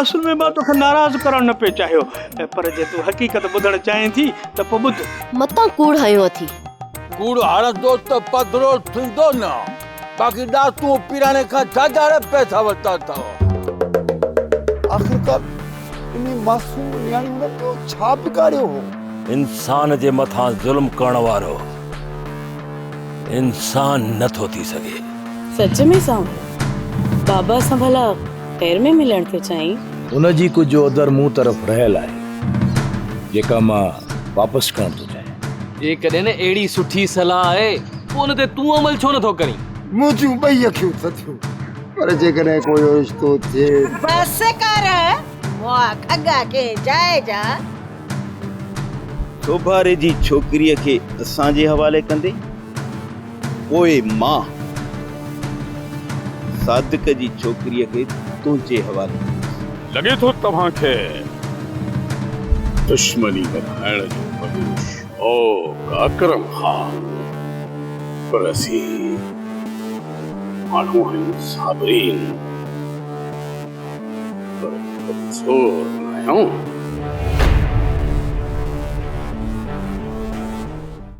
اصل ۾ مان توکي ناراض ڪرڻ نه پئي چاهيو پر جي تون حقيقت ٻڌڻ چاهين ٿي ته پوء ٻڌ. متان ڪوڙ هنيو اٿي. ڪوڙ هڻندو ته پڌرو ٿيندو نه باقي ڏاتون پيراڻي کان ڇا جاڙي پئسا ورتا اٿئو. آخرڪار انهي معصوم نياڻي هن ٻيو ڇا بگاڙيو هو. انسان جي مٿان ظلم ڪرڻ وارو انسان نه ٿو ٿي سگهي. سچ ۾ سانء بابا سان ڀلا. خير ۾ ملڻ ٿيو چائين. ان جي ڪجهه اودر مون طرف رهيل آهي، جيڪا مان واپس ڪرڻ ٿو چاهيان. جيڪڏهن اهڙي سٺي صلاح آهي، پوء ان تي تون عمل ڇو نه ٿو ڪرين؟ منهنجيون ٻئي اکيون ٿڌيون. پر جيڪڏهن ڪو اهو رشتو ٿئي. بس ڪر، مئا کڳا ڪنهن جاء جا. سوڀاري جي ڇوڪريء کي اسان جي حوالي ڪندين؟ پوء مان صادق جي ڇوڪريء کي تنهنجي حوالي ڪندس. لڳي ٿو توهان کي دشمني وڌائڻ جو وڏو شوق آ اڪرم خان، پر اسين ماڻهو آهيون صابرين، پر ڪمزور ناهيون.